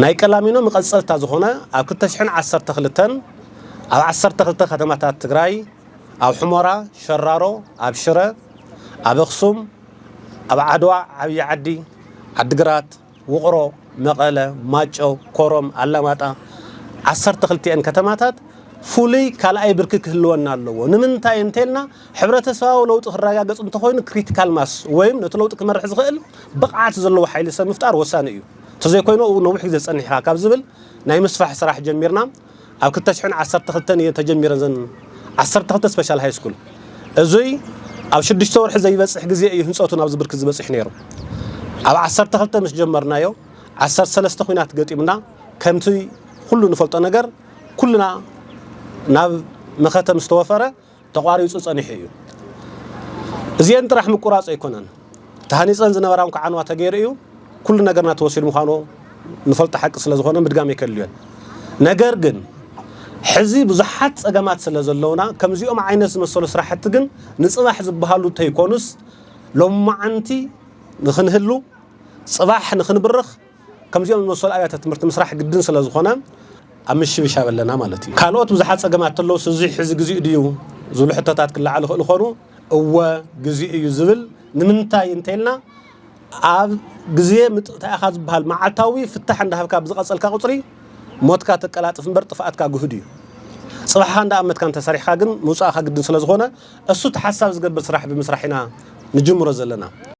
ናይ ቀላሚኖ መቐፀልታ ዝኾነ ኣብ ክልተ ሽሕን ዓሰርተ ክልተን ኣብ ዓሰርተ ክልተ ከተማታት ትግራይ ኣብ ሑመራ፣ ሸራሮ፣ ኣብ ሽረ፣ ኣብ ኣኽሱም፣ ኣብ ዓድዋ ዓብዪ ዓዲ፣ ዓዲግራት፣ ውቕሮ፣ መቐለ፣ ማጨው፣ ኮረም፣ ኣላማጣ ዓሰርተ ክልቲኤን ከተማታት ፍሉይ ካልኣይ ብርኪ ክህልወን ኣለዎ። ንምንታይ እንተልና ሕብረተሰባዊ ለውጢ ክረጋገፅ እንተኾይኑ ክሪቲካል ማስ ወይም ነቲ ለውጢ ክመርሕ ዝኽእል ብቕዓት ዘለዎ ሓይሊ ሰብ ምፍጣር ወሳኒ እዩ። ተዘይኮይኑ ኣብኡ ነዊሕ ግዜ ጸኒሕኻ ካብ ዝብል ናይ ምስፋሕ ስራሕ ጀሚርና ኣብ ክልተ ሽሕን ዓሰርተ ክልተን እየን ተጀሚረን እዘን ዓሰርተ ክልተ ስፔሻል ሃይስኩል። እዙይ ኣብ ሽዱሽተ ወርሒ ዘይበጽሕ ግዜ እዩ ህንጸቱ ናብዚ ብርኪ ዝበጺሑ ነይሩ። ኣብ ዓሰርተ ክልተ ምስ ጀመርናዮ ዓሰርተ ሰለስተ ኹናት ገጢሙና ከምቲ ኩሉ ንፈልጦ ነገር ኩልና ናብ መኸተ ምስ ተወፈረ ተቋሪፁ ፀኒሑ እዩ። እዚኤን ጥራሕ ምቁራፅ ኣይኮነን ተሃኒፀን ዝነበራ እውን ክዓንዋ ተገይሩ እዩ። ኩሉ ነገርና ተወሲዱ ምዃኑ ንፈልጦ ሓቂ ስለ ዝኾነ ምድጋም ኣይከድልዮን። ነገር ግን ሕዚ ብዙሓት ፀገማት ስለ ዘለውና ከምዚኦም ዓይነት ዝመሰሉ ስራሕቲ ግን ንፅባሕ ዝበሃሉ ተይኮኑስ ሎማዓንቲ ንክንህሉ ፅባሕ ንክንብርኽ ከምዚኦም ዝመሰሉ ኣብያተ ትምህርቲ ምስራሕ ግድን ስለ ዝኾነ ኣብ ምሽብሻብ ኣለና ማለት እዩ ካልኦት ብዙሓት ፀገማት ተለውስ እዚ ሕዚ ግዚኡ ድዩ ዝብሉ ሕቶታት ክለዓሉ ይኽእሉ ኾኑ እወ ግዚኡ እዩ ዝብል ንምንታይ እንተይልና ኣብ ግዜ ምጥእታ ኢኻ ዝበሃል መዓልታዊ ፍታሕ እንዳሃብካ ብዝቐፀልካ ቁፅሪ ሞትካ ተቀላጥፍ እምበር ጥፍኣትካ ግህዱ እዩ ፅባሕኻ እንዳኣመትካ እንተሰሪሕካ ግን ምውፃእኻ ግድን ስለ ዝኾነ እሱ ተሓሳብ ዝገብር ስራሕ ብምስራሕ ኢና ንጅምሮ ዘለና